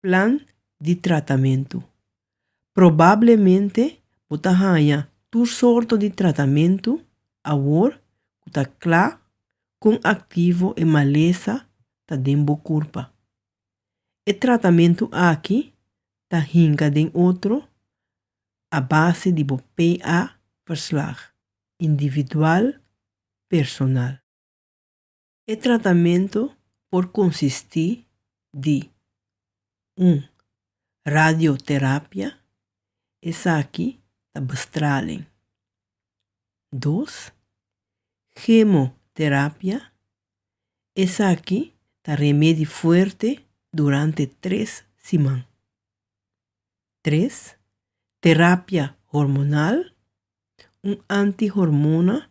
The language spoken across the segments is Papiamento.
Plan di tratamentu. Probablemente bo ta haña tur sorto di tratamentu awor ku ta kla kon aktivo e malesa ta den bo kurpa. E tratamentu aki ta hinka den otro a base di bo PA-verslag, individual, personal. E tratamentu por konsistí di, un radioterapia, esaki ta bestralen, dos kemoterapia, esaki ta remedi fuerte durante tres siman, tres terapia hormonal, un antihormona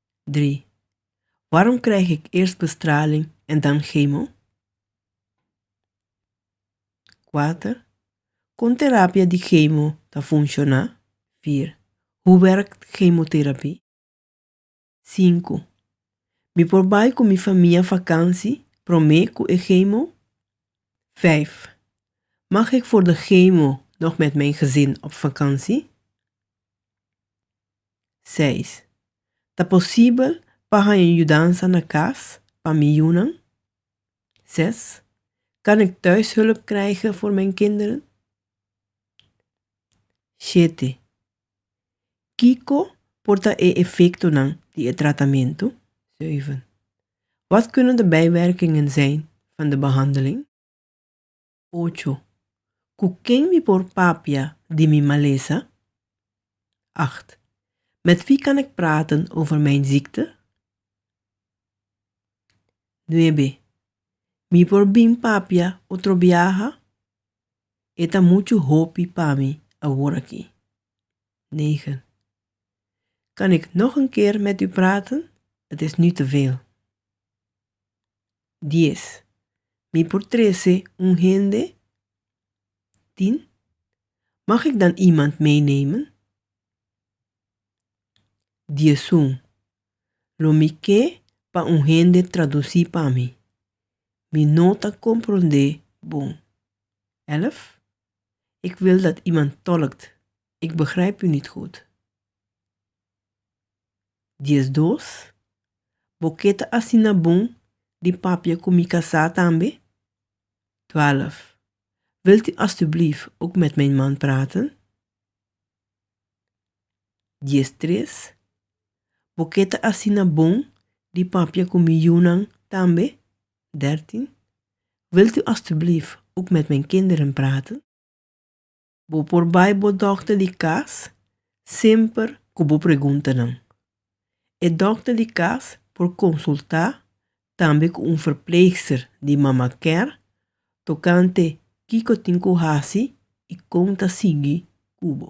3. Waarom krijg ik eerst bestraling en dan chemo? 4. Kon terapia di chemo ta funciona? 4. Hoe werkt chemotherapie? 5. Mi por bai cu mi famia vakantie prome cu e chemo? 5. Mag ik voor de chemo nog met mijn gezin op vakantie? seis. Ta posibel pa haña yudansa na kas pa miyúnan? Zes. Kan ek thuishulp krijgen voor mijn kinderen? Shete. Kiko por ta e efektonan di e tratamentu? Zeuven. Wat kunnen de bijwerkingen zijn van de behandeling? Ocho, Cu ken mi por papia di mi malesa? Acht, Met wie kan ik praten over mijn ziekte? Nuebe, Mi por bin papia otro biaha? E ta muchu hopi pa mi aworaki. Negen, Kan ik nog een keer met u praten? Het is nu te veel. Dies, Mi por trese un hende? Tien, Mag ik dan iemand meenemen? Diesun, Lo mi ke pa un hende traduci pa mi. Mi no ta compronde bon. Elf, Ik wil dat iemand tolkt. Ik begrijp u niet goed. Diesdos, Bo ke ta asina bon di papia ku mi kasá tambe? Twèlf, Wilt u alstublieft ook met mijn man praten? Diestres, Bo ke ta asina bon di papia ku mi yunan tambe? Dèrtin, Wilt u alstublieft ook met mijn kinderen praten? Bo por bai bo dòkter di kas semper ku bo preguntanan. E dòkter di kas por konsultá tambe ku un verpleegster di Mama Care tokante kiko tin ku hasi i kon ta sigui ku bo.